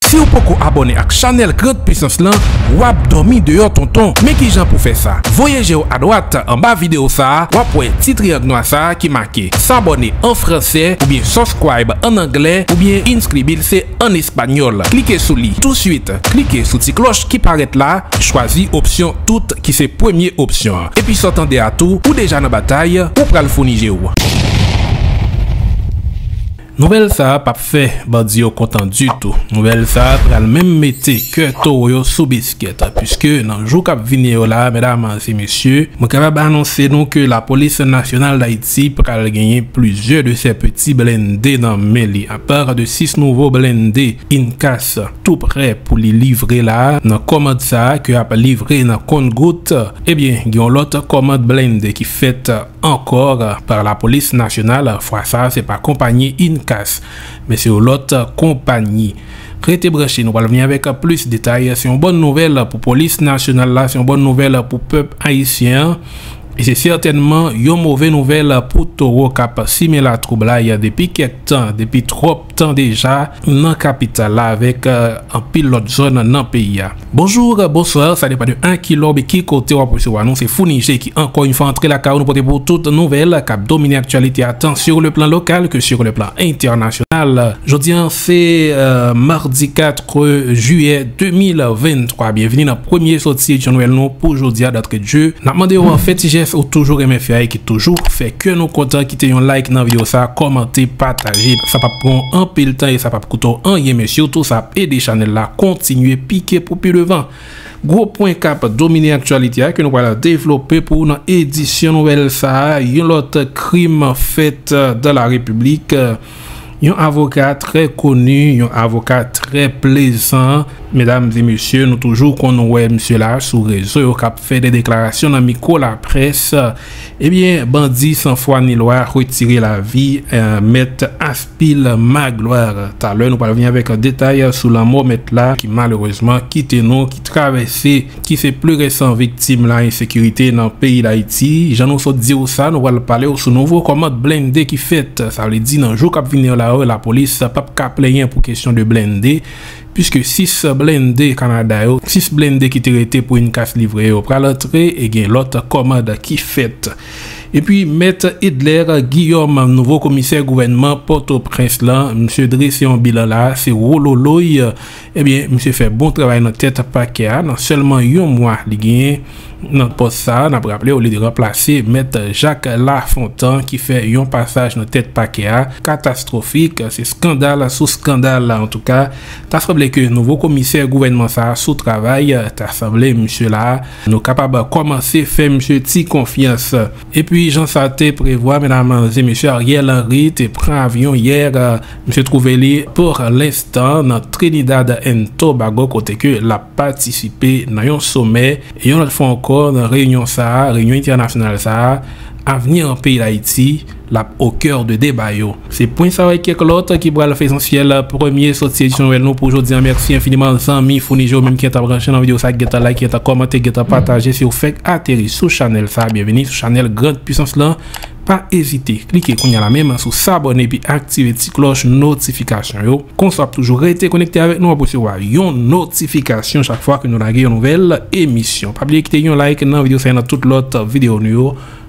Siw poko abone ak chanel grand puissance lan wap domi deyò tonton men kijan pou fè sa voye jew adwat anba video sa wap wè ti triang nwa sa ki make s'abonner an fransè oubyen subscribe an anglè oubyen inscribirse an español klike sou li tou suit klike sou ti kloch ki parèt la chwazi opsyon tout ki se premye opsyon an epi saw tande a tou ou deja nan batay ou pral founi jew. Nouvèl sa a pap fè bandi yo kontan ditou. Nouvèl sa a pral menm mete kè towo yo sou biskèt. Piske nan jou k ap vini yo la a, medam e mesye, mwen kapab anonse nou ke Lapolis Nasyonal Dayiti pral genyen plizyè de sè peti blende nan men li. Apar de 6 nouvo blende INCAS tou prè pou li livre la a, nan kòmand sa a ke ap livre nan kont gout, ebyen gen yon lòt kòmand blende ki fèt. ankò par la polis nasyonal fwa sa se pa konpanyi INCAS men se yon lòt konpanyi rete branche nou pral vini avèk plis detay se yon bòn nouvèl pou polis nasyonal la se yon bòn nouvèl pou pèp ayisyen an e se sètènman yon move nouvèl pou towo kap simen latwoublay depi kèk tan depi twòp. tan deja nan kapital la avèk anpil lòt zòn nan peyi a. Bonjour, bonsoir, sa depan de a ki lè oubyen ki kote wap resevwa nou, se Founi Je ki ankò yn fwa antre lakay ou nou pote pou ou tout nouvèl kap domine aktyalite a tan sur le plan local que sur le plan international. Jodi an se Mardi 4. 3 jiyè 2023 byenvini nan premye soti Jan Nwèl nou pou jodia dantre Dye nap mande ou an fè ti jès ou toujou renmen fè a e ki toujou fè kè nou kontan kite yon like nan video sa kòmante pataje sa pap pran w anpil tan e sa pap koute w anyen men sitou sa ap ede chanèl la kontinye pike pou pi devan gwo pwen kap domine aktyalite a ke nou pral devlope pou ou nan edisyon Nwèl sa yon lòt krim fèt dan la repiblik. Yon avoka trè koni, yon avoka trè plezan. Medam e mesye, nou toujou konn wè misye la sou rezo yo k ap fè de deklarasyon nan mikwo laprès. Ebyen, bandi san fwa ni lwa retire lavi mèt Aspil Magloire. Talè nou pral vini avèk detay sou lanmò mèt la ki malerezman kite nou, ki travèse. ki se pli resan viktim la ensekirite nan peyi Dayiti, jan nou sot di ou sa nou pral pale ou sou nouvo kòmand blende ki fèt, sa vle di nan jou kap vini yo la yo lapolis pap ka plenyen pou kesyon de blende piske 6 blende Kanada yo, 6 blende ki te rete pou yn kas livre yo pral antre e gen lòt kòmand ki fèt. Epi mèt Edler Guillaume nouvo komisè gouvènman pòtoprens lan misye drese yon bilan la se wololoy. Ebyen misye fè bon travay nan tèt pakè a nan sèlman yon mwa li genyen nan pòs sa a, nap raplew li te ranplase mèt Jak Lafontan ki fè yon pasaj nan tèt pakè a katastrofik, se skandal sou skandal antouka ta sanble ke nouvo komisè gouvènman sa a sou travay, ta sanble misye la a nou kapab kòmanse fè misye ti konfyans. Epi jan sa te prevwa medam e mesye Ariel Henry te pran avyon yè misye twouve li pour l'instant nan Trinidad and Tobago kote ke lap patisipe nan yon somè yon lòt fwa ankò nan reyinyon sa reyinyon entènasyonal sa avni an peyi dayiti lap au cœur de deba yo. Se pwen sa yo e kèk lòt ki pral fè esansyèl premye sòti edisyon nouvèl nou pou jodi an mèsi enfiniman zanmi founi je ou menm ki gentan branche nan videyo sa ki gentan like ki gentan kòmante ki gentan pataje si ou fèk ateri sou chanèl sa byenvini sou chanèl grand pwisans lan pa ezite klike kounya la menm sou sabòne epi aktive ti klòch notifikasyon yo konsa wap toujou rete konekte avèk nou wap resevwa yon notifikasyon chak fwa ke nou lage yon nouvèl emisyon pa bliye kite yon like nan videyo sa e nan tout lòt videyo nou yo.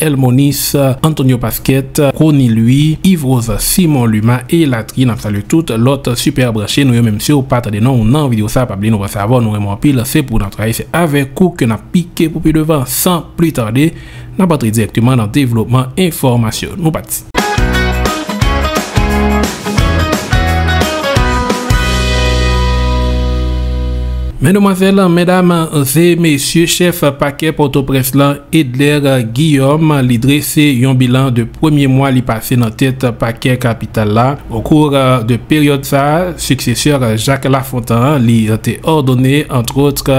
El Monis, Antonio Pasquet, Rony Louis, Yves Rozan, Simon Luma e latriye nap salye tout lòt super branche nou yo menm siw pa tande non ou nan video sa pa bliye nou panse avè w nou renmen w anpil se pou nan travay se avèk ou ke nap pike pou pi devan san pli tarde nap antre dirèkteman nan devlopman enfòmasyon nou pati. Mèdamwazèl, mèdam, ze mesye, chèf pakè Pòtoprens lan, Edler Guillaume, li drese yon bilan de premye mwa li pase nan tèt pakè kapital la. Okou de peryòd sa, siksesè Jacques Lafontan li te òdone antwòtre.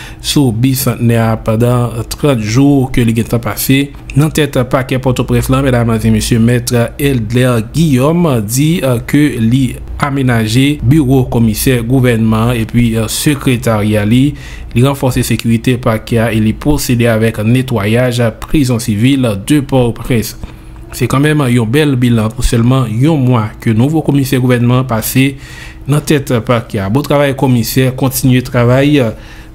sou Bisantnè a pandan 30 jou ke li gentan pase nan tèt pakè Pòtoprens lan, medam e mesye, Mèt Eldler Guillaume di ke li amenaje biwo komisè gouvènman an epi sekretarya li, li ranfòse sekirite pakè a e li pwosede avèk netwayaj prizon sivil de Pòtoprens. Se kanmenm yon bèl bilan pou sèlman yon mwa ke nouvo komisè gouvènman pase nan tèt pakè a. Bon travay komisè, kontinye travay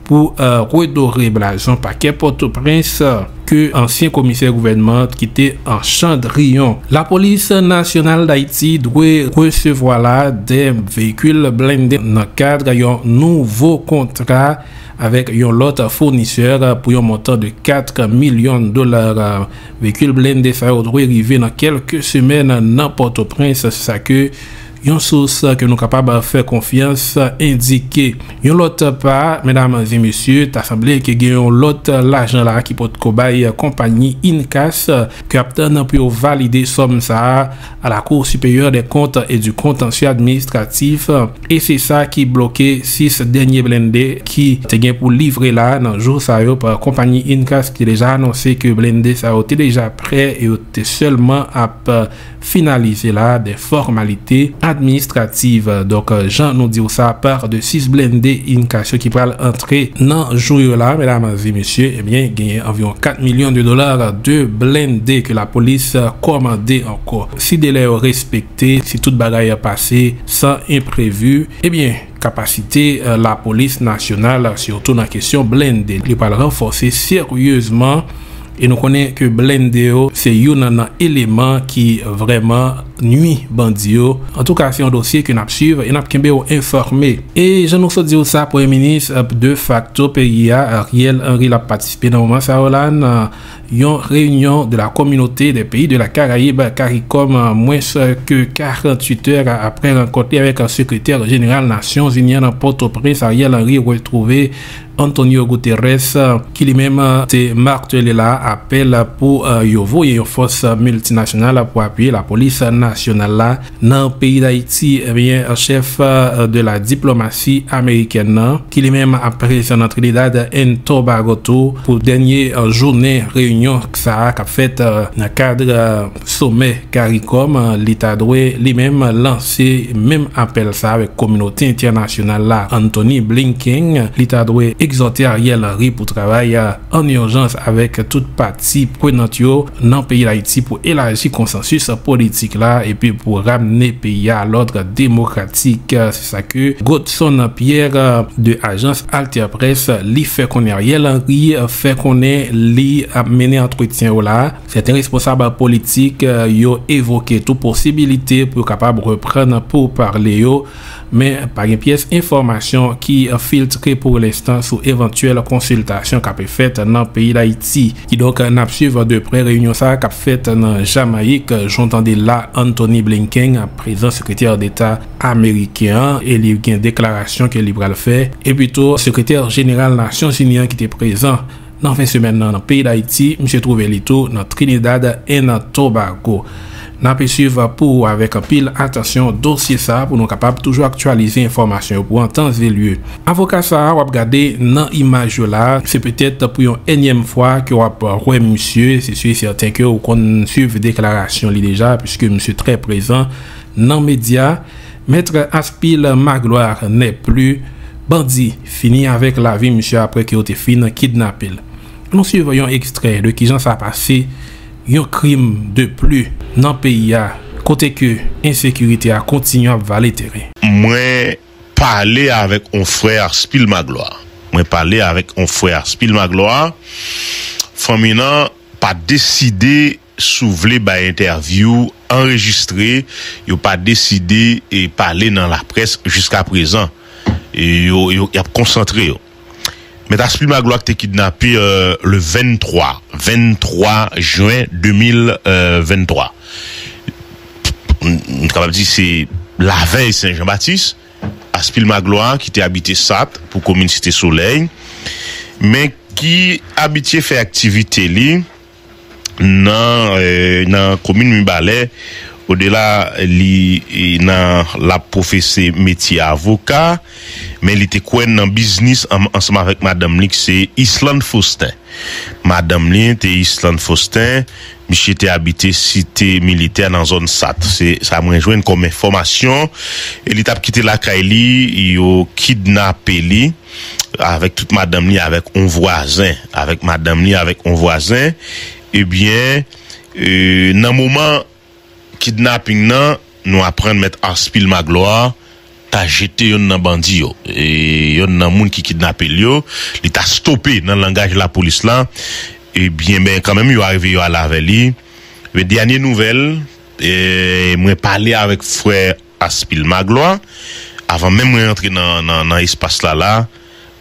pou redore blason pakè Pòtoprens ke ansyen komisè gouvènman t kite an chandriyon. Lapolis Nasyonal Dayiti dwe resevwa la 2 veyikil blende nan kad yon nouvo kontra avèk yon lòt founisè pou yon montan de 4 milyon dola. Veyikil blende sa yo dwe rive nan kelke semèn nan Pòtoprens, se sa ke yon sous ke nou kapab fè konfyans endike. Yon lòt pa, medam e mesye, ta sanble ke gen yon lòt lajan la ki potko bay konpayi INCAS ke ap tann pou yo valide sòm sa a. a la Cour Supérieure des Comptes et du Contentieux Administratif e se sa ki bloke 6 dènye blende ki te gen pou livre la nan jou sa yo pa konpayi Incas ki te deja anonse ke blende sa yo te deja prè e yo te sèlman ap finalize la des formalités administratives donk jan nou diw sa par de 6 blende Incas yo ki pral Ke nan jou yo la, medam e mesye, ebyen genyen anviwon 4 milyon de dola de blende ke lapolis kòmande ankò. Si delè yo respekte, si tout bagay pase san enprevi, ebyen kapasite lapolis nasyonal, sitou nan kesyon blende, li pral ranfòse seryezman. E nou konnen ke blende yo se youn nan eleman ki vrèman nwi bandi yo. Antouka se yon dosye ke nap swiv e nap kenbe ou enfòme. E jan nou sot di ou sa premye minis de fakto peyi a Ariel Henry lap patisipe nan moman sa yo la nan yon reyinyon de la communauté des pays de la Caraïbe, caricom, mwens ke 48 tè apre rankont li avèk sekretè jeneral nasyon zini an nan pòtoprens Ariel Henry retwouve Antonio Guterres, ki li menm te martele la apèl pou yo voye yon fòs miltinasyonal pou apiye lapolis nasyonal la nan peyi Dayiti, ebyen chèf de la diplomasi amerikèn nan, ki li menm ap prezan nan Trinidad and Tobago tou pou dènye jounen reyinyon sa a kap fèt nan kad. Somè caricom li ta dwe li menm lanse menm apèl sa avèk kominote entènasyonal la Anthony Blinking li ta dwe egzòte Ariel Henry pou travay an urjans avèk tout pati prenant yo nan peyi Dayiti pou elaji konsansis politik la epi pou ramne peyi a lòdre demokratik se sa ke Godson Pierre de ajans AlterPresse li fè konnen Ariel Henry fè konnen li ap mennen antretyen yo la. Sèten responsab politik yo evoke tou posibilite pou yo kapab reprann pourpale yo, men pa gen pyès enfòmasyon ki filtre pou lenstan sou evantyèl konsiltasyon k ape fèt nan peyi Dayiti. Kidonk n ap swiv de prè reyinyon sa a k ap fèt nan Jamayik, jan w tande la Antony Blinken ap prezan sekretè deta ameriken an e li gen deklarasyon ke li pral fè, epi tou sekretè jeneral Nasyonzini an ki te prezan. Nan fen semèn nan nan peyi Dayiti, misye twouve li tou nan Trinidad and Tobago. N ape swiv pou ou avèk anpil atansyon dosye sa pou nou kapab toujou aktyalize enfòmasyon yo pou an tan e lye. Avoka sa a w ap gade nan imaj yo la, se petèt pou yon enyèm fwa ke w ap wè misye, se si e sèten ke ou konn swiv deklarasyon li deja, piske misye trè prezan nan medya. Maître Aspil Magloire n'est plus Bandi fini avèk lavi misye aprè ke yo te fin kidnape l. An nou swiv yon ekstrè de kijan sa pase, yon krim de pli nan peyi a kote ke ensekirite a kontinye ap vale teren. Mwen pale avèk yon frè Aspil Magloire. Mwen pale avèk yon frè Aspil Magloire. Fanmi nan pa deside. Si w vle bay entèvyou anrejistre, yo pa deside pale nan laprès jiska prezan. Y ap konsantre yo. Mèt Aspli Magloire te kidnape le 23, 23 jen 2023. Nou kapab di se lavèy Sen Jan Batis. Aspil Magloire ki te abite Sat pou komin Site Solèy men ki abitye fè aktivite li. nan komin Mibalè, Odela li nan lap pwofese metye avoka, men li te kwè nan biznis ansanm avèk madanm li ki se Yslande Faustin. Madanm li te Yslande Faustin, misye te abite site militè nan zòn Sat. Se sa mwen jwenn kòm enfòmasyon. Li tap kite lakay li, yo kidnape li. avèk tout madanm li avèk yon vwazen, avèk madanm li avèk yon vwazen, ebyen nan moman kidnaping nan nou aprann mèt Arspil Magloire ta jete yonn nan bandi yo, yonn nan moun ki kidnapel yo, li ta stope nan langaj lapolis la, ebyen men kanmenm yo arive yo ale avè li, men dènye nouvèl mwen pale avèk frè. Aspil Maglwa, avan menm mwen antre nan espas la la,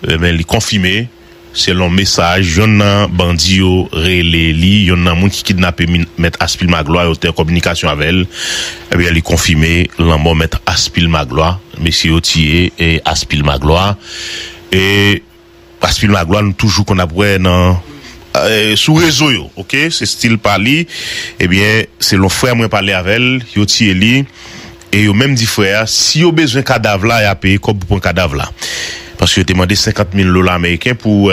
enben li konfime, selon mesaj yonn nan bandi yo rele li, yonn nan moun ki kidnape mèt Aspil Maglwa yo te an kominikasyon avè l, enben li konfime lanmò mèt Aspil Maglwa, mesye yo tiye Aspil Maglwa. Past Phil Magloire nou toujou konn ap wè nan sou rezo yo ok se stil pa li ebyen selon frè mwen pale avèl yo tiye li e yo menm di frè a si yo bezwen kadav la ya peye kòb pou pran kadav la paske yo te mande 50 mil dola ameriken pou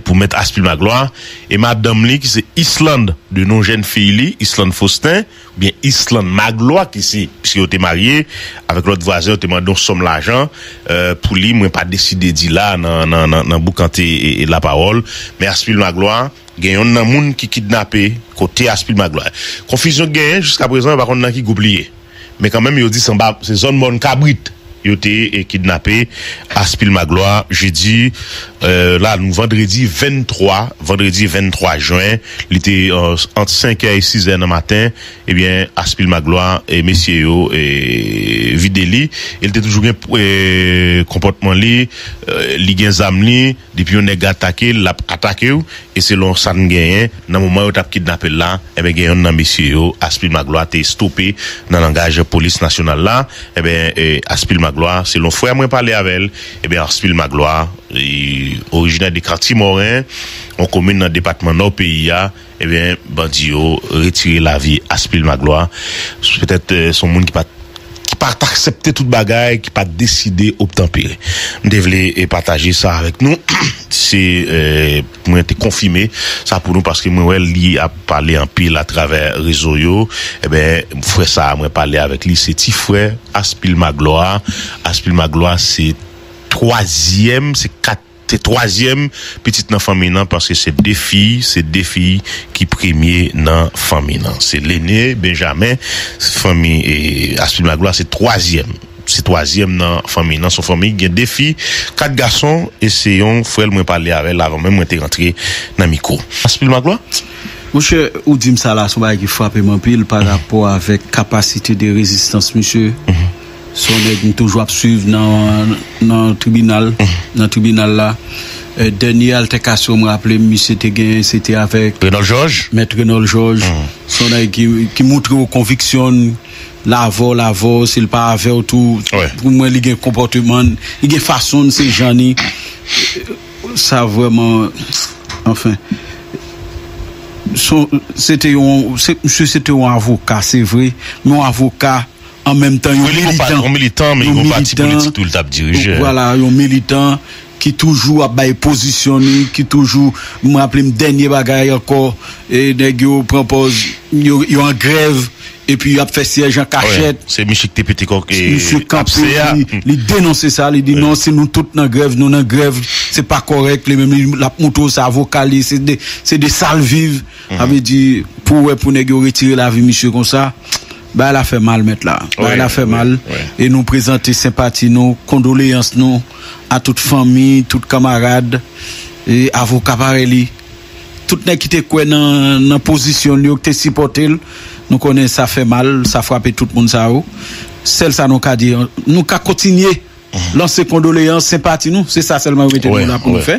pou mèt Aspil Magloire e madanm li ki se Islande de non jèn fiy li Islande Faustin. Oubyen Ysselande Magloire ki se, piske yo te marye, avèk lòt vwazen yo te mande yon sòm lajan pou li mwen pa deside di la nan boukante lapawòl men Aspil Magloire gen yonn nan moun ki kidnape kote Aspil Magloire konfizyon ki genyen jiskaprezan yo pa konn nan ki gwoup li ye men kanmenm yo di se zòn mòn kabrit. Yo te kidnape Aspil Magloire jedi la nou vandredi 23 vandredi 23 jen li te ant 5 kè e 6 zè nan maten ebyen Aspil Magloire mesye yo vide li el te toujou gen konpòtman li li gen zam li. Depi yon nèg atake l, l ap atake w, e selon sa n genyen, nan moman yo t ap kidnape l la, enben gen yonn nan mesye yo, Aspil Maglwa, te estope nan langaj polis nasyonal la, enben Aspil Maglwa, selon frè mwen pale avè l, enben Aspil Maglwa, orijinè de Karti Mòren, yon komin nan depatman Nò peyi a, Ebyen bandi yo retire lavi Aspil Maglwa petèt son moun ki pat ki pat aksepte tout bagay ki pat deside obtanpere m te vle pataje sa avèk nou se pou mwen te konfime sa pou nou paske mwen wè li ap pale anpil atravè rezo yo ebyen frè sa mwen pale avèk li se ti frè Aspil Maglwa Aspil Maglwa se twazyèm se kat Te twazyèm pitit nan fanmiy lan paske se de fiy, se de fiy ki premye nan fanmiy lan. Se lene, Benjamen, fanmi Aspil Maglwa se twazyèm, se twazyèm nan fanmiy lan. Son fanmiy ki gen de fiy, kat gason e se yon frè l mwen pale avè l avan menm mwen te rantre nan mikwo. Aspil Maglwa? Monchè, ou di m sa la son bagay ki frape m anpil pa rapò avèk kapasite de rezistans misye. Son nèg m toujou ap swiv nan tribinal nan tribinal la dènye altèkasyon m raple m misye te genyen se te avèk mèt Renòl Jòj son nèg ki moutre w konviksyon n l avè w l avè w si l pa avè w tou pou mwen li gen konpòteman n li gen fason n se jan ni sa vrèman anfen son se te yon msye se te yon avoka se vre men yon avoka. an menm tan yon militan, yon militan men yon pati politik tou li tap dirije. Vwala yon militan ki toujou ap bay pozisyon li, ki toujou, m raple m dènye bagay ankò e nèg yo pran pòz yo an grèv epi yap fè syèj an kachèt. Se misye ki te pete kòk e apse a. Li denonse sa, li di non si nou tout nan grèv, nou nan grèv se pa kòrèk, li menm lap montre w se avoka li, se de sal viv, sa vle di pou wè pou nèg yo retire lavi misye konsa. Bagay la fè mal mèt la. Bagay la fè mal e nou prezante senpati nou, kondoleyans nou a tout fanmi, tout kamarad, avoka parèy li, tout nèg ki te kwè nan pozisyon l yo, ki te sipòte l. Nou konnen sa fè mal, sa frape tout moun sa yo. Sèl sa nou ka di, nou ka kontinye. Lanse kondoleyans, senpati nou, se sa sèlman yo mete nou la pou nou fè,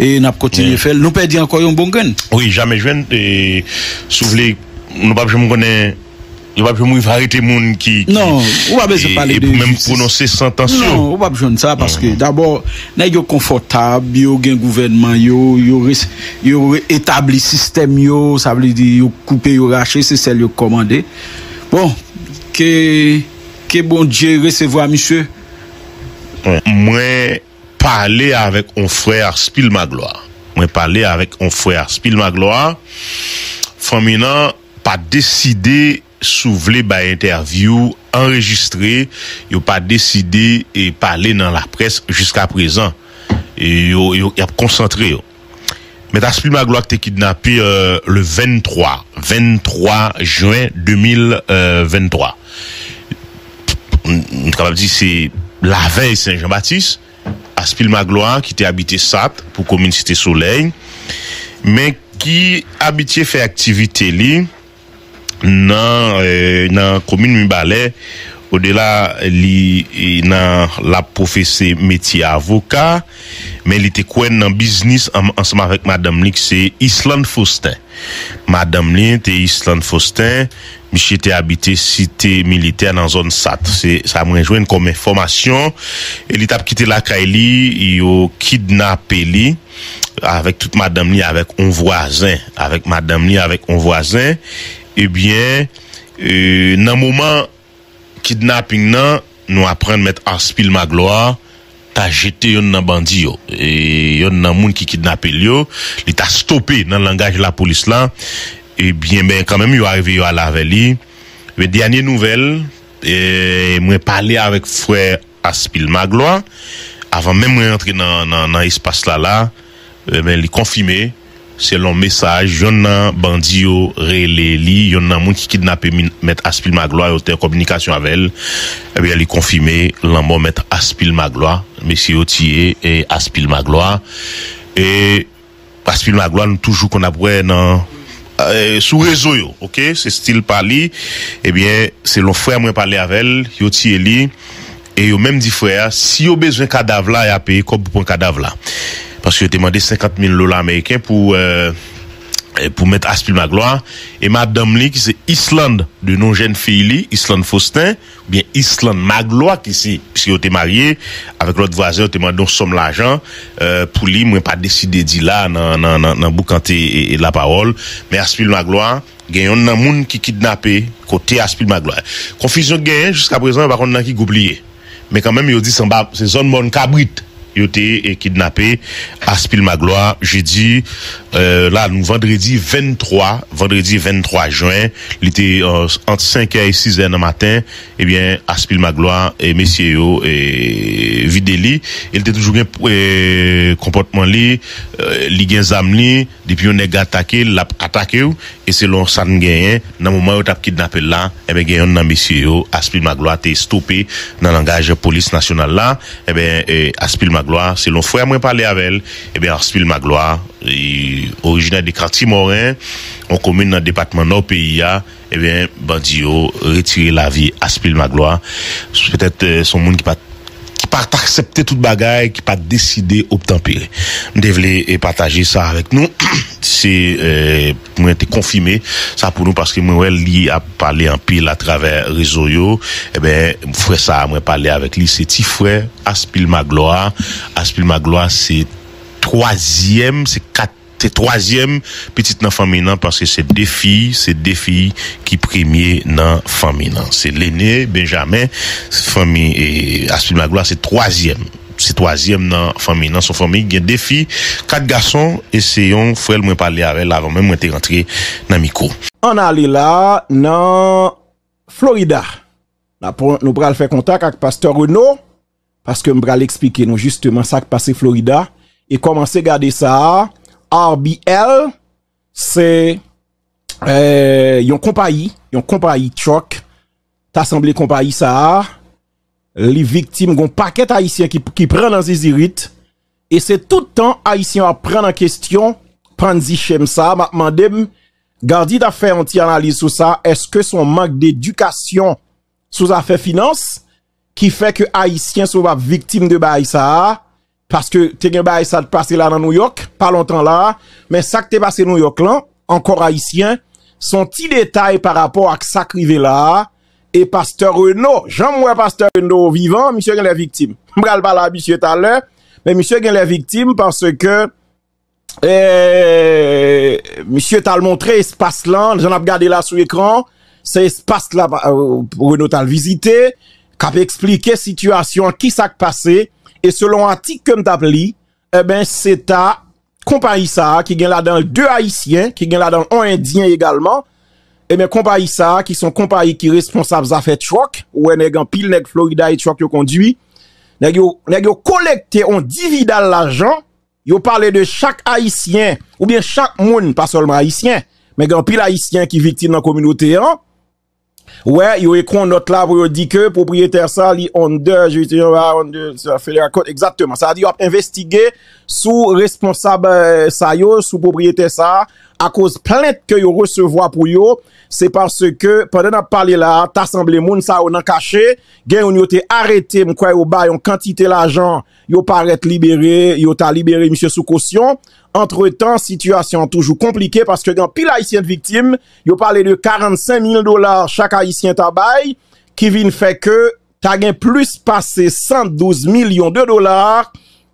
e n ap kontinye fè l. Nou pèdi ankò yon bon grenn. Wi, jamè jwenn, e si w vle, nou pap janm konnen, yo pap janm rive arete moun ki, Non, ou pa bezwen pale de jistis. E pou menm pwononse santans yo. Non, ou pap jwenn sa, paske dabò, nèg yo konfòtab, yo gen gouvènman yo, yo re, yo re etabli sistèm yo, sa vle di yo koupe, yo rache, se sèl yo k kòmande. Bon, ke. Ke Bondye resevwa misye. Mwen pale avèk on frè Aspil Magloire Mwen pale avèk on frè Aspil Magloire Fanmi nan pa deside sou vle bay entèvyou anrejistre Yo pa deside pale nan laprès jiskaprezan Yo y ap konsantre yo. Mèt Aspil Magloire ki te kidnape le 23, 23 jen 2023. Nou kapab di se lavèy Sen Jan Batis. Aspil Magloire ki te abite Sat pou komin Site Solèy men ki abitye fè aktivite li. nan komin Mibalè, Odela li nan lap pwofese metye avoka, men li te kwè nan biznis ansanm avèk madanm li ki se Yslande Faustin. Madanm li te Yslande Faustin, misye te abite site militè nan zòn Sat. Se sa mwen jwenn kòm enfòmasyon. Li tap kite lakay li, yo kidnape li. avèk tout madanm li avèk on vwazen avèk madanm li avèk on vwazen ebyen nan moman kidnaping nan nou aprann mèt Arspil Magloire ta jete yonn nan bandi yo yonn nan moun ki kidnapel yo li ta stope nan langaj lapolis la ebyen men kanmenm yo arive yo ale avè li men dènye nouvèl mwen pale avèk frè Aspil Magloire avan menm mwen antre nan espas la la ebyen li konfime selon mesaj yonn nan bandi yo rele li yonn nan moun ki kidnape mèt Aspil Magloire yo te an kominikasyon avèl ebyen li konfime lanmò mèt Aspil Magloire mesye yo tiye Aspil Magloire e Past Phil Magloire nou toujou konn ap wè nan sou rezo yo ok se stil pa li ebyen selon frè mwen pale avèl yo tiye li e yo menm di frè a si yo bezwen kadav la ya peye kòb pou pran kadav la paske yo te mande 50 mil dola ameriken pou pou mèt Aspil Magloire e madanm li ki se Islande de non jèn fiy li Islande Faustin. Gen Ysselande Magloire ki se, pske yo te marye, avèk lòt vwazen yo te mande yon sòm lajan pou li mwen pa deside di la nan boukante lapawòl men Aspil Magloire gen yonn nan moun ki kidnape kote Aspil Magloire konfizyon ki genyen jiskaprezan yo pa konn nan ki gwoup li ye men kanmenm yo di se zòn mòn kabrit. Yo te kidnape Aspil Magloire jedi la nou vandredi 23 vandredi 23 jwen li te ant 5 è e 6 è nan maten ebyen Aspil Magloire mesye yo vide li e li te toujou gen konpòtman li li gen zam li. Depi yon nèg atake l l ap atake w e selon sa n genyen nan moman yo t ap kidnape l la enben gen yonn nan mesye yo Aspil Maglwa te estope nan langaj polis nasyonal la enben Aspil Maglwa selon frè mwen pale avè l enben Aspil Maglwa orijinè de Kati Mòren yon komin nan depatman Nò peyi a. Ebyen bandi yo retire lavi Aspil Maglwa petèt se yon moun ki pat ki pat aksepte tout bagay ki pat deside obtanpere m te vle pataje sa avèk nou se pou mwen te konfime sa pou nou paske mwen wè li ap pale anpil atravè rezo yo ebyen frè sa mwen pale avèk li se ti frè Aspil Maglwa Aspil Maglwa se twazyèm se kat Se twazyèm pitit nan fanmiy nan paske se 2 fiy, se 2 fiy ki premye nan fanmiy nan. Se lene, Benjamen, fanmi Aspid Magloire se twazyèm, se twazyèm nan fanmiy nan. Se yon fanmiy ki gen 2 fiy, 4 gason e se yon frè l mwen pale avè l avan menm mwen te rantre nan mikwo. Ann ale la nan Florida. Nou pral fè kontak ak pastè Renaud. Paske m pral esplike nou jisteman sa k pase Florida e kòmanse gade sa a RBL se yon konpayi yon konpayi truck ta sanble konpayi sa a li viktim gon pakèt ayisyen ki pran nan zizirit e se tout tan ayisyen yo ap pran nan kestyon pandzi shem sa a m ap mande m Gardy ta fè yon ti analiz sou sa eske son mank dedikasyon sou zafè finans ki fè ke ayisyen sou ap viktim de baay sa a, paske te gen baay sa te pase la nan Nouyòk, pa lontan la a, men sa ki te pase Nouyòk lan, ankor ayisyen, son ti detay pa rapò ak sa ki rive la a, e pastè Reno, jan mwen pastè Reno vivan, misye gen lè viktim. Mpral pale a misye talè, men misye gen lè viktim, paske, Misye tal montre espas lan, jan nap gade la sou ekran, se espas la Renaud tal vizite, kap eksplike sitiyasyon, ki sak pase, e selon atik kem tap li, e ben se ta konpayi sa a ki gen la dan 2 ayisyen, ki gen la dan on endyen egalman, e ben konpayi sa a ki son konpayi ki responsab zafè truck, ou wè nèg anpil nèg Florida e truck yo kondwi, nèg yo kolekte on dividal lajan, Yo pale de chak Ayisyen oubyen chak moun, pa sèlman Ayisyen, men gen anpil Ayisyen ki viktim nan kominote an. Wè, yo ekri yon nòt la pou yo di ke pwopriyetè sa li under jurisdiction of Federal Court, Federal Court, egzakteman. Sa vle di yo ap envestige sou responsab sa yo, sou pwopriyetè sa, akoz plent ke yo resevwa pou yo. Se paske, pandan n ap pale la, ta sanble moun sa yo nan kache, gen youn yo te arete, m kwè yo bay yon kantite lajan. Yo parèt libere, yo ta libere misye sou kosyon. Antretan, sitiyasyon an toujou konplike paske gen anpil ayisyen t viktim. Yo pale de 45 mil dola chak ayisyen ta bay ki vin fè ke ta gen plis pase 112 milyon de dola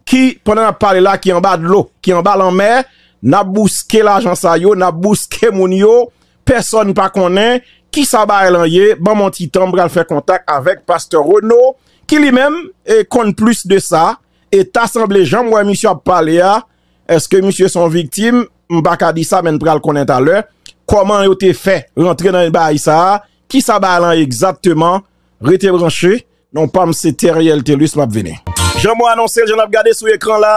ki pandan nap pale la ki anba dlo, ki anba lanmè. Nap bouske lajan sa yo, nap bouske moun yo. Pèsòn pa konnen kisa bagay lan ye, banm yon ti tan m pral fè kontak avèk pastè Reno ki li menm konn plis de sa, e ta sanble janm wè misye ap pale a, èske misye son viktim, m pa ka di sa men n pral konnen talè, kòman yo te fè rantre nan bagay sa, kisa bagay lan egzatteman, rete branche. Non pam se Theriel Thelus map vini. Jan mwen anonse l, jan n ap gade sou ekran la,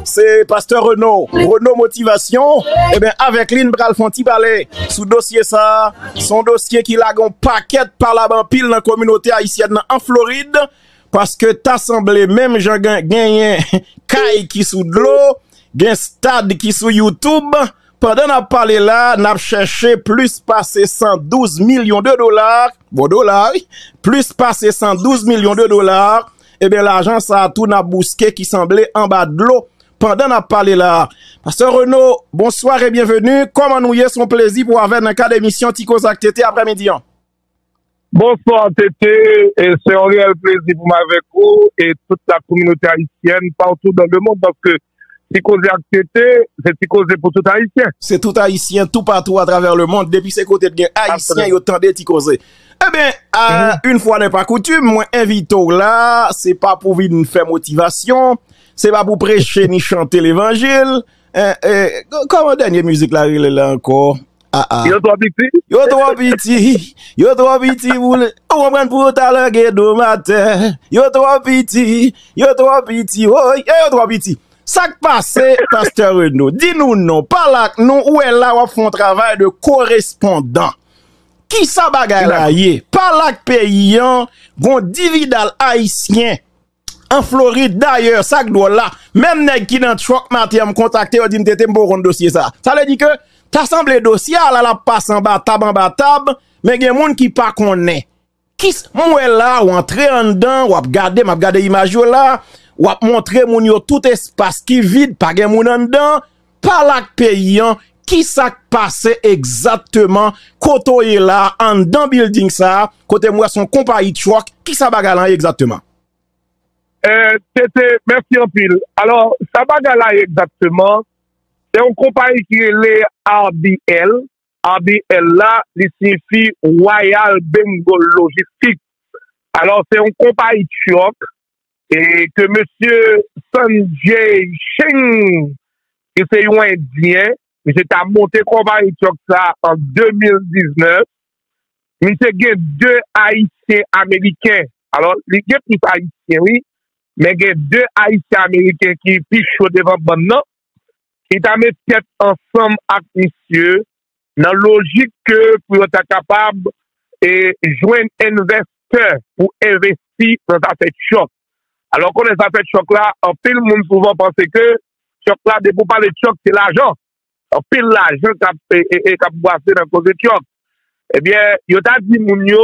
se pastè Reno, Reno Motivation, eben avèk li n pral fè yon ti pale sou dosye sa, se yon dosye ki lage yon pakèt palab anpil nan kominote ayisyèn nan an Florid, paske ta sanble menm jan genyen kay ki sou dlo, gen stad ki sou YouTube. Pandan n ap pale la, n ap chèche plis pase 112 milyon de dola, bon dola wi, plis pase 112 milyon de dola, eben lajan sa a tou n ap bouske ki sanble anba dlo pandan n ap pale la. Pastè Reno, bonswa re byenveni, kòman nou ye, s on plezi pou avè nan kad emisyon Ti Koze ak TT aprè midi an. Bonsoir TT, se yon reyèl plezi pou m avèk ou e tout la kominote ayisyèn partout dans le monde paske Ti Koze ak TT se ti koze pou tout ayisyen. Se tout ayisyen toupatou atravè le mond depi se kote t gen ayisyen yo tande Ti Koze. Enben, une fois n'est pas coutume, mwen envite w la se pa pou vin fè motivasyon, se pa pou preche ni chante levanjil, Koman dènye mizik la rele la ankò? Yo twò piti? Yo twò piti, yo twò piti pou le, ou konprann pou yo ta lage do m atè. Yo twò piti, yo twò piti, woy, e yo twò piti. Sa k pase, pastè Reno? Di nou non, pale ak nou, ou wè la w ap fè yon travay de korespondan. Ki sa bagay la ye? Pale ak peyi an, gon dividal ayisyen. an Florid dayè sak dwòl la menm nèg ki nan truck maten an m kontakte yo di m TT m poko konn dosye sa sa vle di ke ta sanble dosye a la lap pase anba tab anba tab men gen moun ki pa konnen kis m wè la w antre anndan wap gade map gade imaj yo la wap montre moun yo tout espas ki vid pa gen moun anndan. Pale ak peyi an, kisa k pase egzatteman kote w ye la anndan bilding sa a, kote m wè se yon konpayi truck, kisa bagay lan ye egzatteman? TT, Mèsi anpil. Alò, sa bagay la ye egzatteman, se yon konpayi ki rele RBL, RBL la, li siyifi Royal Bengal Logistic. Alò, se yon konpayi truck, e ke mesye Sanjay Shing ki se yon endyen, misye ta monte konpayi truck sa an 2019, misye gen 2 ayisyen ameriken, alò li gen plis ayisyen wi, men gen 2 ayisyen ameriken ki pi cho devan bann nan, ki ta met tèt ansanm ak misye nan lojik ke pou yo ta kapab e jwenn envèstè pou envesti nan zafè tchòk. Alò ou konnen zafè tchòk la, anpil moun souvan panse ke tchòk la, depi ou pale tchòk se lajan. Anpil lajan k ap e k ap bwase nan koze tchòk. Ebyen, yo ta di moun yo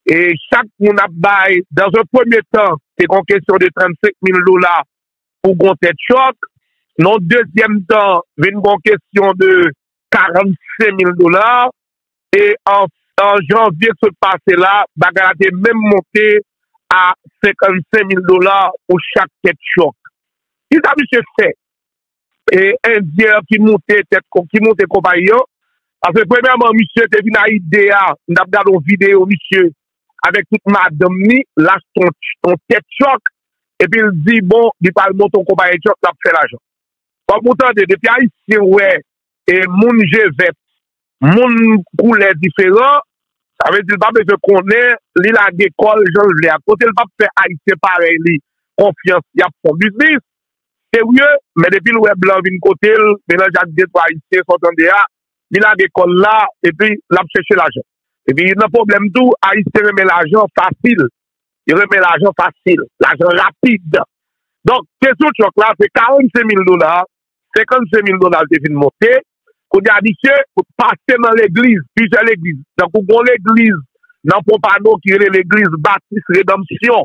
e chak moun ap bay, dans un premier temps, se te yon kesyon de 35 mil dola pou gon tèt chòk. Nan yon dezyèm tan, vin gon kesyon de 45 mil dola. E an janvye k sot pase la, bagay la te menm monte a 55 mil dola pou chak tèt chòk. Ki sa misye fè? E endyen an ki moute tèt, ki moute konpayi an. Paske premyèman, misye te vin a ide a, m t ap gade yon videyo misye avèk tout madanm ni, l achte yon tèt chòk, epi l di bon, li pral monte yon konpayi chòk, l ap fè lajan. Fòk ou tande, depi Ayisyen wè moun je vèt, moun koulè diferan, sa vle di l pa bezwen konnen, li lage kò l jan l vle a. Kote l p ap fè Ayisyen parèy li konfyans, y ap fon biznis serye, men depi l wè blan vin kote l, melanje ak detwa Ayisyen, sa w tande a, li lage kòl la epi lap chèche lajan epi nan pwoblèm tou ayisyen renmen lajan fasil yo renmen lajan fasil lajan rapid donk kesyon chòk la se 45 mil dola 55 mil dola li te fin monte kounye a misye pase nan legliz plizyè legliz tankou gon legliz nan ponpado ki rele legliz batis redanmsyon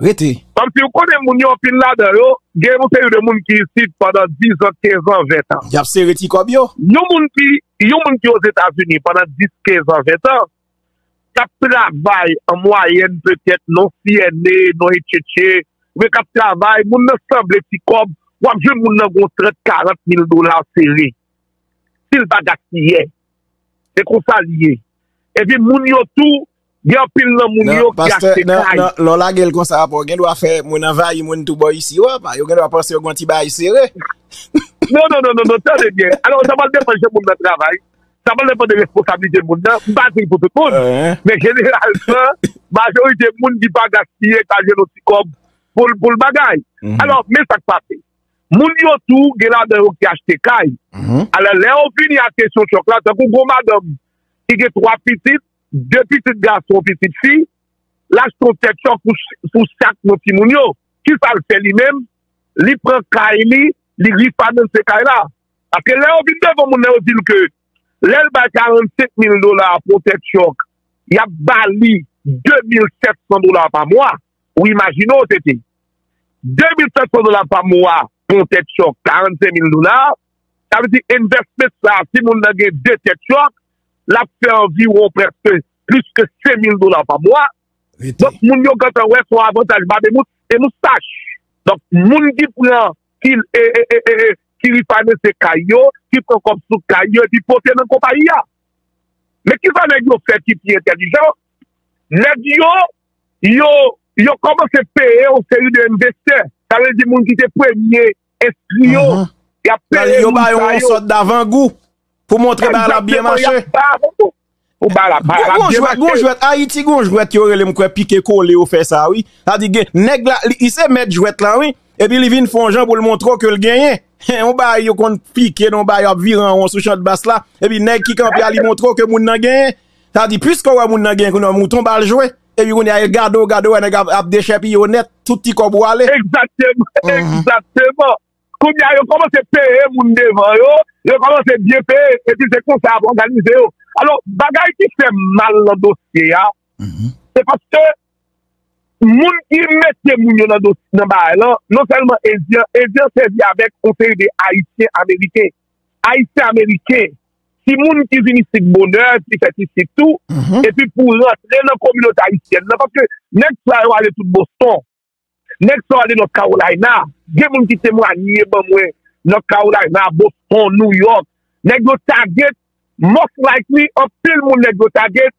Rete! Kòmsi ou konnen moun yo anpil ladan yo gen yon seri de moun ki isit pandan dizan, kezan, ventan. Yap sere ti kòb yo. Yon moun ki yon moun ki Ozetazini pandan dis, kezan, ventan, kap travay an mwayèn petèt non siyène, non etchetche, men kap travay, moun nan sanble ti kòb, wap jwenn moun nan gon trant, karant mil dola sere. Si l pa gaspiyè. Se konsa li ye. Epi moun yo tou Gen anpil nan moun yo ki achte kay. Nan, lè w lage l konsa apre w gen dwa fè moun anvayi moun tou bò isi yo apa. Yo gen dwa panse yo gen yon ti bagay sere. Non, non, non, non, non, tande byen. Alò, sa pral depann jan moun nan travay. Sa pral depann de responsablite moun nan. M pa di l pou tout moun. Men jeneralman, majorite moun ki pa gaspiye ka jwenn yon ti kòb pou l bagay. Alò, men sa k pase. Moun yo tou gen ladan yo ki achte kay. Alò, lè yo vini ak kesyon chòk la, tankou gwo madanm ki gen twa pitit, 2 pitit gason yon pitit fi, l achte yon tèt chòf pou chak nan timoun yo. Kisa l fè li menm? Li pran kay li, li refinance kay la. Paske lè yo vin devan moun nan yo di l ke lè l bay 45 mil dola pou yon tèt chòf, y ap ba li 2 mil 700 dola pa mwa. Ou imajine w TT. 2 mil 700 dola pa mwa pou yon tèt chòf 45 mil dola. Sa vle di investment sa a si moun nan gen 2 tèt chòf. l ap fè anviwon prèske plis ke 5 mil dola pa mwa. Donk moun yo gentan wè se yon avantaj Babemout e nou sach. Donk moun ki pran ki refinance kay yo, ki pran kòb sou kay yo epi pote nan konpayi a. Men kisa nèg yo fè ki pi entèlijan, nèg yo yo kòmanse peye yon seri de envestè, sa vle di moun ki te premye Espri yo, y ap peye moun sa yo. Yo ba yo yon sòt davangou pou montre bagay la ap byen mache. Gon jwèt, Ayiti gon jwèt yo rele m kwè pike kole yo fè sa wi. Sa di gen nèg la, li se mèt jwèt lan wi. Epi li vin fè yon jan pou l montre w ke l genyen. Yon bagay yo konn pike nan yon bagay yo ap vire an won sou chantbas la. Epi nèg ki kanpe a li montre w ke moun nan genyen. Sa di pwiske w wè moun nan genyen kounye a mouton ba l jwe. Epi kounye a e gade w, gade w wè nèg ap dechèpiye w nèt, tout ti kòb ou ale. Egzakteman, egzakteman. Kounye a yo kòmanse peye moun devan yo, yo kòmanse byen peye, epi se konsa y ap òganize yo. Alò, bagay ki fè m mal nan dosye a, se paske moun ki mete moun yo nan bagay lan, non sèlman Endyen, Endyen sèvi avèk yon seri de Ayisyen-Ameriken. Ayisyen-Ameriken. timoun ki vin isit bonè, ki fèt isit tou, epi pou rantre nan kominote ayisyèn nan, paske nèg sa yo ale tout Boston, nèg sa yo ale North Carolina, gen moun ki temwanye ban mwen North Carolina, Boston, New York, nèg yo target, most likely, anpil moun nèg yo target,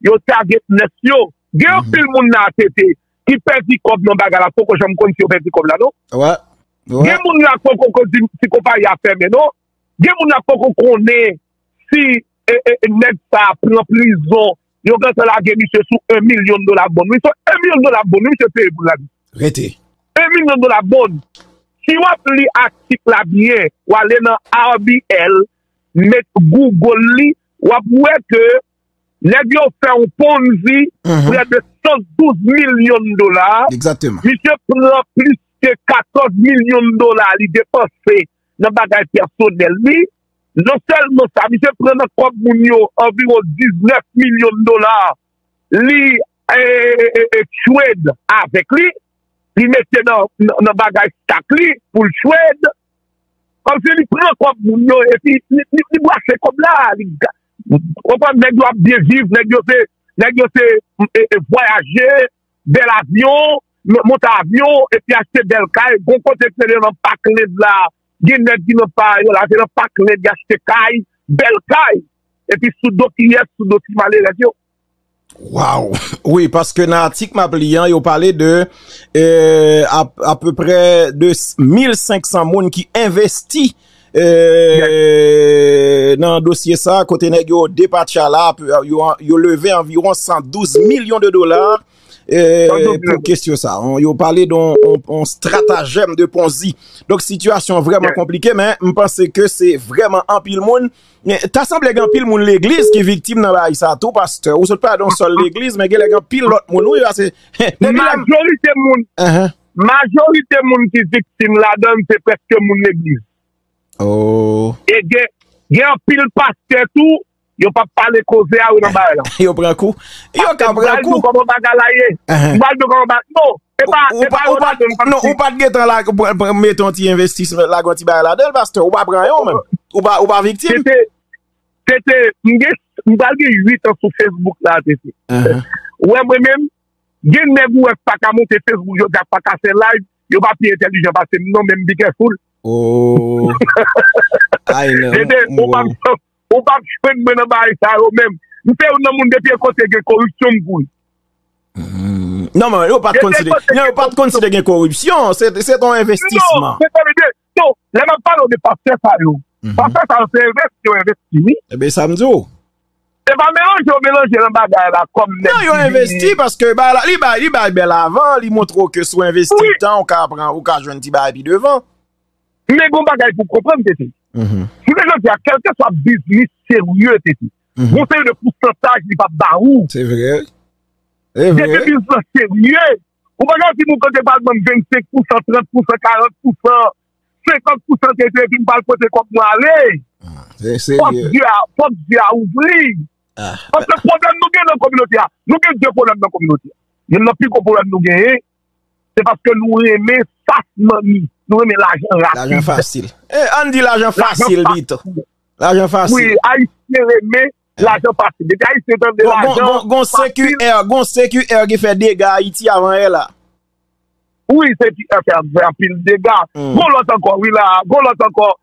Yo target nurse yo. Gen anpil moun la ATT ki pèdi kòb nan bagay la poko janm konn si yo pèdi kòb la non. Gen moun la poko konn si konpayi a fèmen non. Gen moun la poko konnen si nèg sa pran prizon. Yo gentan lage misye sou 1 milyon dola bond wi. Se 1 milyon dola bond wi misye peye pou l la. Rete. 1 milyon dola bond. Si w ap li atik la byen, w ale nan RBL, met Google li, w ap wè ke. Nèg yo fè yon ponzi prè de 112 milyon dola, misye pran plis ke 14 milyon dola li depanse nan bagay pèsonèl li, non sèlman sa misye pran nan kòb moun yo anviwon 19 milyon dola li trade avèk li, li mete nan bagay stak li pou l trade, kòmsi li pran kòb moun yo epi li brase kòb la, Ou konprann nèg yo ap byen viv, nèg yo se, nèg yo se e vwayaje, bèl avyon, monte avyon epi achte bèl kay, gon kote se nan Parkland la, gen nèg ki nan pa yo la, se nan Parkland y achte kay, bèl kay, epi sou do kiyès, sou do ti malerèz yo. Waw, wi paske nan atik map li an yo pale de apeprè de 1500 moun ki envesti euh, nan dosye sa kote nèg yo depatcha la yo leve anviron 112 milyon de dola euh, pou kesyon sa yo pale don on stratajem de ponzi donk sitiyasyon vreman konplike men mpanse ke se vreman anpil moun Men ta sanble gen anpil moun legliz ki viktim nan bagay sa tou pastè, ou sot pale de yon sèl legliz men genlè gen anpil lòt moun wi pase depi lèm Majorite moun Majorite moun ki viktim ladann se prèske moun legliz Ohh E gen gen anpil pastè tou yo pa pale koze a yo nan bagay la Yo pran kou Yo ka pran kou Pase m pral di w kòman bagay la ye M pral di w kòman bagay la ye non Epa, epa yo la don pati. Ou pat gen tan la mete yon ti investis la gonti bay la don pastè. Ou pa pran yon men. Ou pa viktim. Tete, tete, mge, mba gen 8 an sou Facebook la tete. Ou wè mwen menm, gen nèg ou wè k paka monte Facebook yo dja k paka fè live, yo pa pi entèlijan pase m non men m bi kè foul. Ooh. Ay nan. Tete, ou pa m. Ou pap jwenn mwen nan bagay sa yo menm. M se youn nan moun depi yon kote gen koripsyon m kouri. Non men yo pat konn si te gen koripsyon, se ton envestisman. Non, tande byen, non, lè map pale w de pastè sa yo, pastè sa yo se envesti yo envesti wi. E ben sa m di w. Se pa melanje yo melanje nan bagay la kom nèg ki. Non yo envesti paske bagay la, li bay, li bay bèl avan, li montre w ke si w envesti tan ou ka pran, ou ka jwenn ti bagay pi devan. Men gon bagay pou konprann TT. Jounen jodi a kelke swa biznis serye TT. Gon seri de pousantaj li pap ba ou. Se vre. E vre. Depi biznis lan serye. Ou pa ka di m ou kote pral banm 25 pousan, 30 pousan, 40 pousan, 50 pousan TT epi m pral pote kob mwen ale. Se serye. Pòt zye a ouvri. Paske pwoblèm nou gen nan kominote a. Nou gen 2 pwoblèm nan kominote a. Youn nan pi gwo pwoblèm nou genyen. Se paske nou renmen fas manmi. Nou renmen lajan rapid. Lajan fasil. E ann di lajan fasil pito. Lajan fasil. Wi, ayisyen renmen lajan fasil. Depi ayisyen tande lajan fasil. Gon CQR, gon CQR ki fè dega Ayiti avan yè la. Wi, CQR fè anpil dega. Gon lòt ankò, wi la. Gon lòt ankò.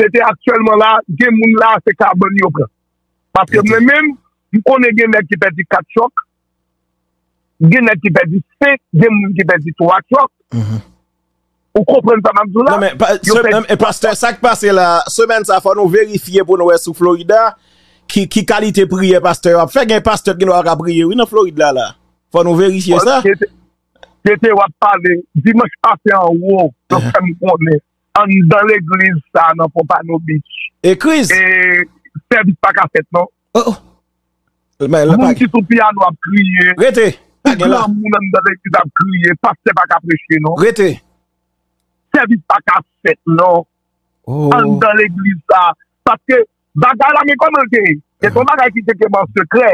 Se te aktyèlman la, gen moun la se kabann yo pran. Paske mwen menm, m konnen gen nèg ki pèdi 4 chòk, gen nèg ki pèdi 5, gen moun ki pèdi 3 chòk. Ou konprann sa m ap di w la? Yo pèdi 3 chòk. Pastè, sa k pase la, semèn sa fò nou verifye pou nou wè sou Florida, ki kalite priyè pastè yo ap fè. Gen pastè ki gen dwa pa ka priye wi nan Florid la la. Fò nou verifye sa. Tete w ap pale, dimanch pase an wou, yo fè m konnen. Anndan legliz sa nan Pompano Beach. Ekriz! E sèvis pa ka fèt non. Oh oh! Moun ki sou piyano ap kriye. Rete! Pa gen la. Tout granmoun anndan legliz ap kriye. Pastè pa ka preche non. Rete! Sèvis pa ka fèt non. Oh! Anndan legliz sa. Paske bagay la gen kòman l te ye. Se te yon bagay ki te fèt an sekrè.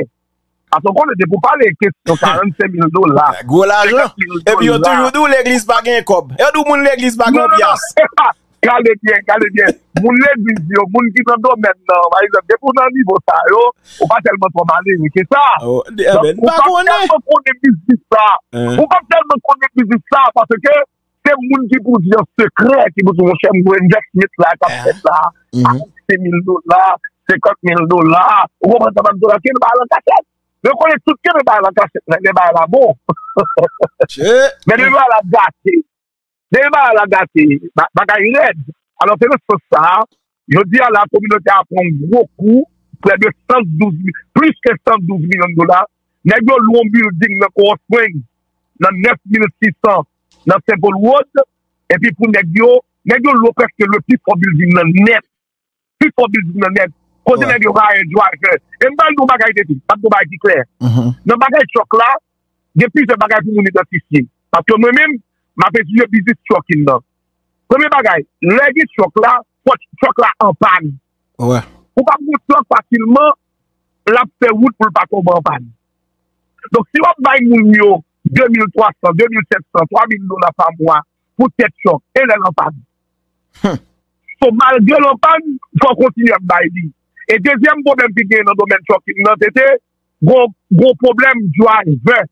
Paske w konnen depi w pale kesyon 45 mil dola, 50 mil dola. Gwo lajan. Epi yo toujou di w legliz pa gen kòb. Yo di w moun legliz pa gen yon pyas. Non, non, non, epa! Gade byen, gade byen. Moun legliz yo, moun ki nan domèn nan, pa egzanp, depi w nan nivo sa yo, ou pa tèlman twò malere ke sa. Donk, ou pa tèlman konnen biznis sa. Ou pa tèlman konnen biznis sa paske Se moun ki pou di an sekrè ki pou di monchè m gen envèsmant la kap fèt la, sa ap koute mil dola, senkant mil dola, ou konprann sa m ap di w la, kenbe bagay lan kachèt. Men w konnen tout kenbe bagay lan kachèt nan, lè bagay la bon. Men lè bagay la gate, lè bagay la gate, bagay rèd. Alò se nan sans sa a, Jodi a la, kominote a pran yon gwo kou, prè de 112 mil, plis ke 112 milyon dola. Nèg yo lwe yon bilding nan Coral Springs nan 9600 nan St. Paul Road, epi pou nèg yo, nèg yo lwe prèske lwe pi fò bilding nan nèt, pi fò bilding nan nèt. Kote nèg yo hire driver. E m pral di yon bagay de pi, m ap di yon bagay ki klè. Nan bagay truck la, gen plizyè bagay pou moun idantifye. Paske mwen menm, m ap etidye biznis trucking nan. Premye bagay, lè gen chòk la, fòk chòk la anpàn. Ou pa pran chòk fasilman, l ap fè wout pou l pa tonbe anpàn. Donk, si w ap bay moun yo 2300, 2700, 3000 dola pa mwa pou tèt chòk, e lè l anpàn? So, malgre l anpàn, fò w kontinye ap bay li. E dezyèm pwoblèm ki genyen nan domèn chòk nan tete, gen yon pwoblèm drivè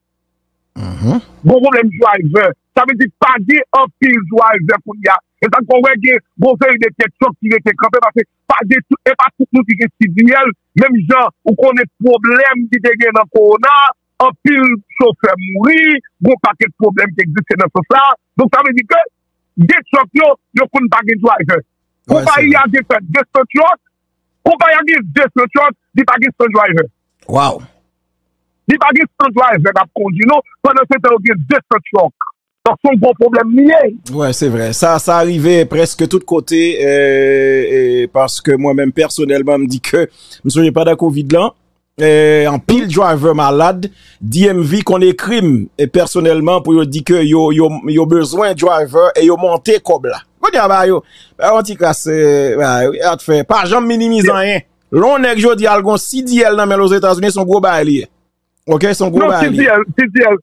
Gon pwoblèm drive, sa vle di pa gen anpil drive kounya. E sa n fè w wè gen gon seri de tèt chòk ki rete kanpe paske pa gen tout, e pa tout moun ki gen CDL. Menm jan ou konnen pwoblèm ki te gen nan kowona, anpil chofè mouri, gon pakèt pwoblèm ki egziste nan sans sa a. Donk sa vle di ke gen chòk yo, yo konn pa gen drive. Konpayi a gen pèt 200 chòk. Konpay a gen 200 truck, li pa gen 100 driver. Wow! Li pa gen 100 driver kap kondi non, pandan se tan yo gen 200 truck. Donk son gwo pwoblèm li ye. Wi se vre. Sa sa rive preske tout kote e paske mwen menm pèsonèlman m di ke m sonje pandan covid lan. Anpil driver malad, DMV konn ekri m pèsonèlman pou yo di ke yo bezwen driver e yo monte kòb la. Kounye a ba yo, ba yo ti kras, ba yo, e a t fè, pa janm minimize anyen. Lè yon nèg jodi a al gen yon CDL nan men l ozetazini, se yon gwo bagay li ye. Ok, se yon gwo bagay li ye. Non, CDL, CDL,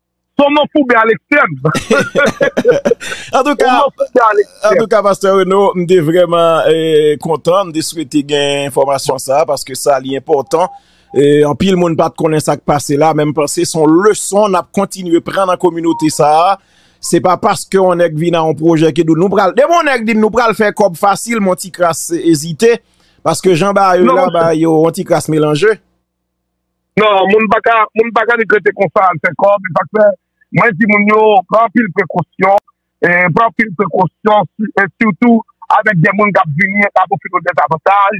Son nan foube a lekstrèm. An tou ka, an tou ka Pasteur Reno, m te vreman kontan, m te swete gen enfomasyon sa, paske sa li enpotan, an pil moun pat konen sa k pase la, men m panse son leson n ap kontinye pran nan kominote sa, se pa paske yon nèk vin a yon pwojè ke nou pral, depi yon nèk di nou pral fè kob fasil, m yon ti kras ezite, paske jan ba yo la, ba yo yon ti kras melanje. Non, moun pa ka, moun pa ka vin rete konsa al fè kòb, e sak fè mwen di moun yo pran anpil prekosyon, pran anpil prekosyon e sitou avèk de moun kap vini e kap ofri nou dezavantaj,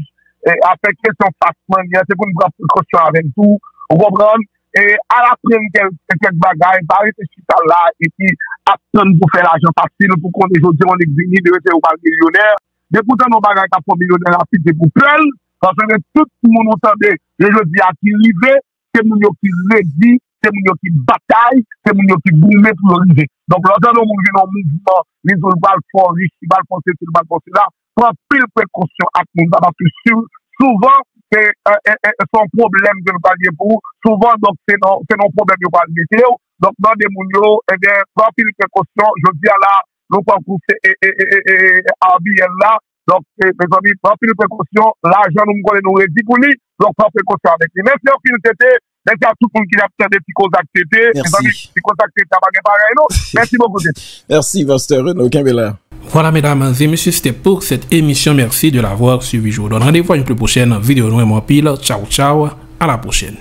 avèk kesyon fas mannè an se pou nou pran prekosyon avèl tou, ou konprann, e al aprann kèk bagay, pa rete chita la epi ap tann pou fè lajan fasil, pou konnen jodi an yon nèg vini demen se ou pral milyonè, depi ou tande yon bagay kap fè w milyonè rapid se pou pè l. Sa se lè tout moun ou tande yo jodi a ki rive, se moun yo ki redi, se moun yo ki batay, se moun yo ki goumen pou yo rive. Donk lè w tande yon moun vin yon mouvman, li di w l pral fò rich, li pral fò sesi, li pral fò sela, pran anpil prekosyon ak moun sa paske souvan se yon pwoblèm ke l pral gen pou ou, souvan donk se nan yon pwoblèm yo pral mete w. Donk mande moun yo, ebyen pran anpil prekosyon, jodi a la nou tankou se ABL la, Donk mezanmi pran anpil prekosyon lajan nou m konnen nou redi pou li donk pran prekosyon avèk li mèsi anpil TT mèsi a tout moun ki ap tande ti koze ak TT mezanmi ti koze ak TT a pa gen parèy non mèsi bokou TT. Merci Pasteur Reno kenbe la. Voilà mesdames et messieurs c'était pour cette émission merci de l'avoir suivi je vous donne rendez-vous à une plus prochaine vidéo nou aime w anpil ciao ciao à la prochaine.